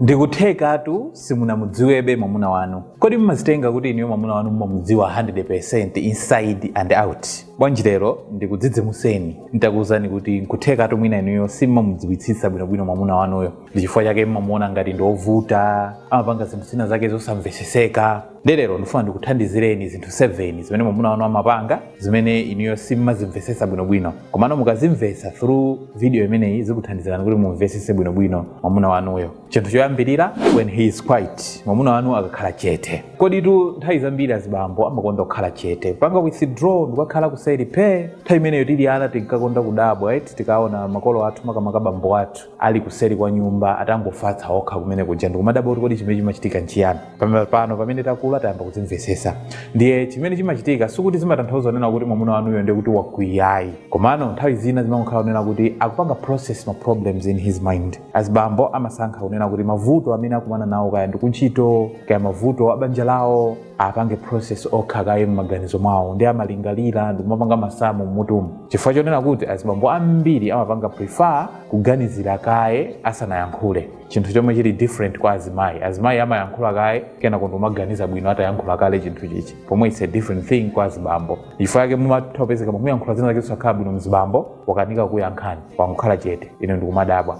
ndikuthekatu simunamudziwebe mwamuna wanu kodi mumazitenga kuti inuyo mwamuna wanu mumamudziwa 100% inside and out bwanji lero ndikudzidzimuseni nditakuwuzani kuti nkuthekatu mwina inuyo simumamudziwitsitsa bwinobwino mwamuna wanuyo ndi chifukwa chake mumamuona ngati ndi ovuta amapanga zinthu zina zake zosamveseseka ndiye lero ndifuna ndikuthandizireni zinthu 7 zimene mwamuna wanu amapanga zimene inuyo simumazimvetsetsa bwinobwino komano mukazimvetsa through video imeneyi zikuthandizirani kuti mumvetsetse bwinobwino mwamuna wanuyo chinthu choyambirira when he is quiet mwamuna wanu akakhala chete koditu nthawi zambiri azibambo amakonda kukhala chete panga withdraw ndikakhala kuseri phe nthawi imeneyo tili ana tinkakonda kudabwa eti tikaona makolo athu makamaka bambo athu ali kuseri kwa nyumba atangofatsa okha kumene kuja ndikumadabwa kuti kodi chimene chimachitika nchiyani pamene pano pamene takula tayamba kuzimvesesa ndiye chimene chimachitika sikuti zimatanthauza kunena kuti mwamuna wanuyo ndiye kuti wakwiya ayi komano nthawi zina zimangokhala kunena kuti akupanga process ma problems in his mind azibambo amasankha kunena kuti mavuto amene akumana nawo kaya ndikuntchito kaya mavuto a banja lawo apange process okha kaye m'maganizo mwawo ndi amalingalira ndikumapanga masamu mmutumu chifukwa chonena kuti azibambo ambiri amapanga prefer kuganizira kaye asanayankhule chinthu chomwe chili different kwa azimayi azimayi amayankhula kaye kenako ndikumaganiza bwino atayankhula kale chinthu chichi pomwe it's a different thing kwa azibambo chifukwa chake mumatha kupezeka mukuyankhula zina zake zosakhala bwino mzibambo wakanika kuyankhani wangokhala chete inu ndikumadabwa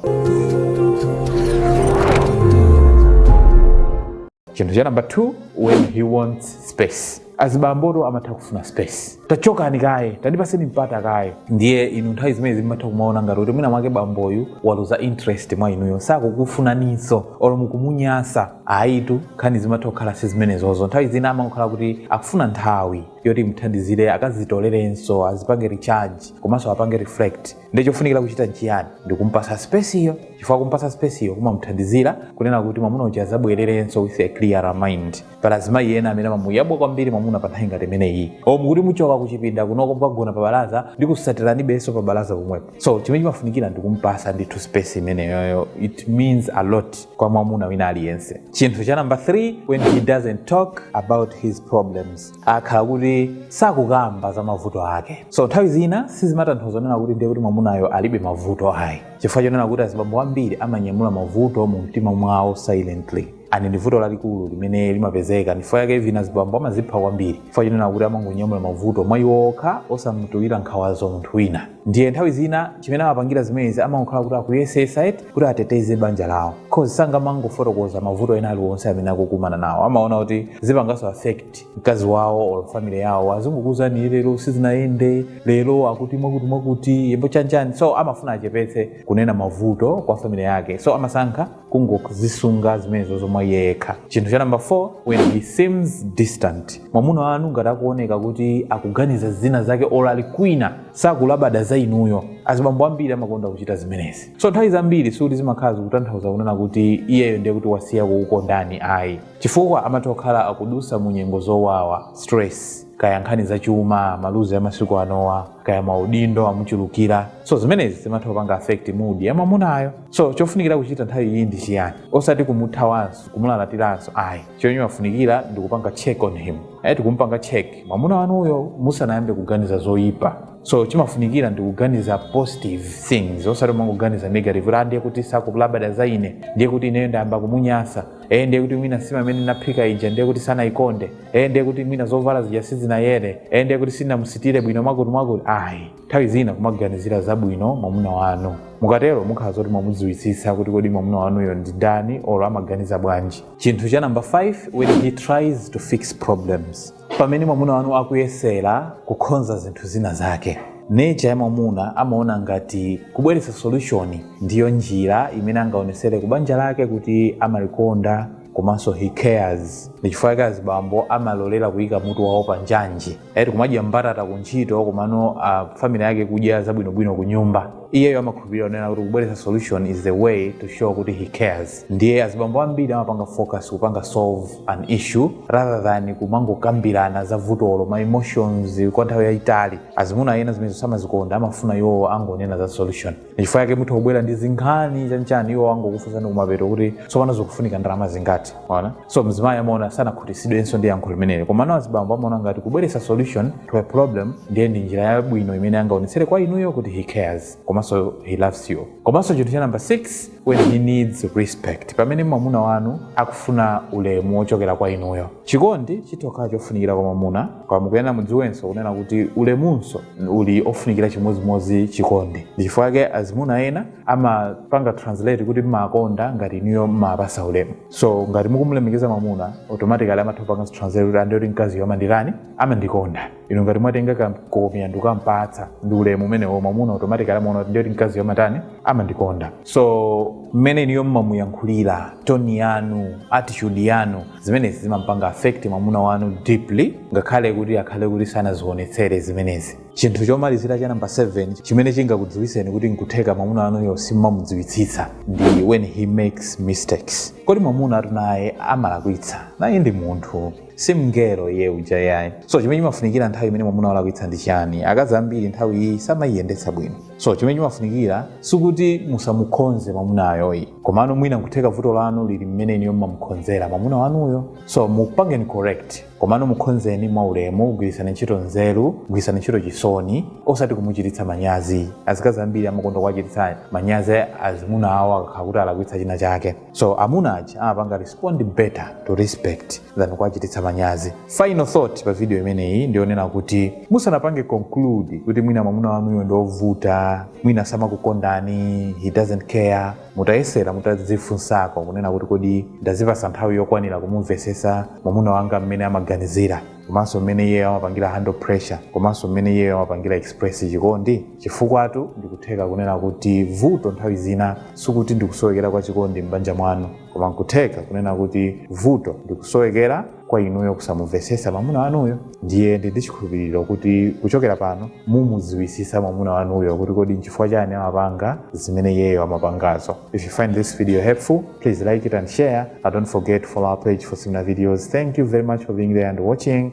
chinthu cha namba 2 when he wants space azibambotu amatha kufuna space tachokani kaye tandipaseni mpata kaye ndiye inu nthawi zimenezi mmatha kumaona ngati kuti mwina mwake bamboyu waluza interest mwa inuyo sakukufunaninso olo mukumunyasa ayitu nkhani zimatha kukhala si zimenezozo nthawi zina amakhala kuti akufuna nthawi yoti imuthandizire akazitolerenso azipange recharge komanso apange reflect ndiye chofunikira kuchita nchiyani ndi kumpasa space yo chifukwa kumpasa space yo kumamuthandizira kunena kuti mwamuna uja azabwererenso with a clear mind pali azimayi ena amene amamuyabwa kwambiri mwamuna pa nthawi ngati imeneyi o mukuti muchoka kuchipinda kunoko mukagona pa balaza ndi kukusatiranibenso pa balaza pomwepo so chimene chimafunikira ndi kumpasa ndithu space imeneyoyo it means a lot kwa mwamuna wina aliyense chinthu cha namba 3 when he doesn't talk about his problems akakhala kuti sakukamba za mavuto ake so nthawi zina sizimatanthauza kunena kuti ndiye kuti mwamunayo alibe mavuto ayi chifukwa chonena kuti azibambo ambiri amanyamula mavuto mu mtima mwawo silently and ndi vuto lalikulu limene limapezeka ndifukwa yake mwina azibambo amazipha kwambiri chifukwa chonena kuti amangonyamula mavuto mwa iwo okha osamutulira nkhawazo munthu wina ndiye nthawi zina chimene amapangira zimenezi amangokhala kuti akuyesesa eti kuti ateteze banja lawo cause sangamangofotokoza mavuto ena aliwonse amene akukumana nawo amaona kuti zipanganso affect mkazi wawo or family yawo azingokuuzani lero sizinayende lero akuti mwakuti mwakuti yembo chanjani so amafuna achepetse kunena mavuto kwa family yake so amasankha kungozisunga zimenezo mwa iye yekha chinthu cha namba 4 when he seems distant mwamuna wanu ngati akuoneka kuti akuganiza zina zake olo ali kwina sakulabada za inuyo azibambo ambiri amakonda kuchita zimenezi so nthawi zambiri sikuti zimakhala zikutanthauza kunena kuti iyeyo ndiye kuti wasiya kukukondani ayi chifukwa amatha kukhala akudutsa mu nyengo zowawa stress kaya nkhani za chuma maluzi ya masiku anowa kaya maudindo amuchulukira so zimenezi zimatha kupanga affect mood ya mwamunayo so chofunikira kuchita nthawi iyi ndi chiyani osati kumuthawanso kumulalatiranso ayi chomwe chimafunikira ndi kupanga check on him ayi tikumupanga check mwamuna wanuyo musanayambe kuganiza zoyipa so chimafunikira ndi kuganiza positive things osati kumangoganiza negative kuti ndiye kuti sakulabada za ine ndiye kuti ineyo ndayamba kumunyansa ee ndiye kuti mwina nsima imene ndinaphika ija ndiye kuti sanayikonde ee ndiye kuti mwina zovala zija sizinayere ee ndiye kuti sinamusitire bwino mwakuti mwakuti ayi nthawi zina kumaganizira zabwino mwamuna wanu mukatero mukhala zoti mwamudziwitsitsa kuti kodi mwamuna wanuyo ndi ndani or amaganiza bwanji chinthu cha namba 5 when he tries to fix problems pamene mwamuna wanu akuyesera kukhonza zinthu zina zake nature ya mwamuna amaona ngati kubweretsa solution ndiyo njira imene angaonesere ku banja lake kuti amalikonda komanso he cares ndi chifukwa chake azibambo amalolera kuyika mutu wawo pa njanji eti kumadya mbatata ku ntchito komano family yake kudya zabwinobwino ku nyumba iyeyo amakhulupirira kunena kuti kubweretsa solution is the way to show kuti he cares ndiye azibambo ambiri amapanga focus kupanga solve an issue rather than kumangokambirana za vutolo ma emotions kwa nthawi yayitali azimuna ena zimene samazikonda amafuna iwo angonena za solution ndichifukwa chake mutha kubwera ndi zinkhani chanchani iwo angokufunsani kumapeto kuti tsopano zikufunika ndalama zingati ona so mzimayi amaona sanakhutitsidwenso ndi yankho limeneli komano azibambo amaona ngati kubweretsa solution to a problem ndiye ndi njira yabwino imene angaonetsere kwa inuyo kuti he cares komanso he loves you komanso chinthu cha namba 6 when he needs respect pamene mwamuna wanu akufuna ulemu wochokera kwa inuyo chikondi chitha kukhala chofunikira kwa mwamuna koma mukuyenera mudziwenso kunena kuti ulemunso uli ofunikira chimodzimodzi chikondi ndi chifukwa chake azimuna ena amapanga translate kuti mmamukonda ngati inuyo mmampatsa ulemu so ngati mukumulemekeza mwamuna automatically amatha kupanga translate kuti a ndiye kuti mkaziyo amanditani amandikonda inu ngati mwatenga kankhomaliro ndi kukampatsa ndi ulemu umenewo mwamuna automatically amaona kuti ndiye kuti mkaziyo amatani amandikonda so mmene inuyo mmamuyankhulira toni yanu attitude yanu zimenezi zimampanga affect mwamuna wanu deeply ngakhale kuti akhale kuti sanazionetsere zimenezi chinthu chomalizira cha namba 7 chimene chingakudziwitseni kuti nkutheka mwamuna wanuyo simmamudziwitsitsa ndi when he makes mistakes kodi mwamunatu naye amalakwitsa naye ndi munthu si mngelo iye uja yayi so chimene chimafunikira nthawi imene mwamuna walakwitsa ndi chani akazi ambiri nthawi iyi samayiyendetsa bwino so chimene chimafunikira sikuti musamukhonze mwamunayoyi komano mwina nkutheka vuto lanu lili mmene inuyo mmamukhonzera mwamuna wanuyo so mupangeni correct komano mukhonzeni mwaulemu gwirisani ntchito nzeru gwirisani ntchito chisoni osati kumuchititsa manyazi azikazi ambiri amakonda kuwachititsa manyazi azimuna awo akakhala kuti alakwitsa china chake so amuna aja amapanga respond better to respect than kuwachititsa manyazi final thought pa video imeneyi ndionena kuti musanapange conclude kuti mwina mwamuna wanuyo ndiovuta mwina samakukondani he doesn't care mutayesera mutadzifunsako kunena kuti kodi ndazipasa nthawi yokwanira kumumvesesa mwamuna wanga mmene amaganizira komanso mmene iyeyo amapangira handle pressure komanso mmene iyeyo amapangira express chikondi chifukwatu ndikutheka kunena kuti vuto nthawi zina sikuti ndikusowekera kwa chikondi m'banja mwanu koma nkutheka kunena kuti vuto ndikusowekera kwa inuyo kusamumvesesa mwamuna wanuyo ndiye ndili ndi chikhulupiriro kuti kuchokera pano mumudziwisisa mwamuna wanuyo kuti kodi nchifukwa chani amapanga zimene iyeyo amapangazo if you find this video helpful please like it and share and don't forget to follow our page for similar videos thank you very much for being there and watching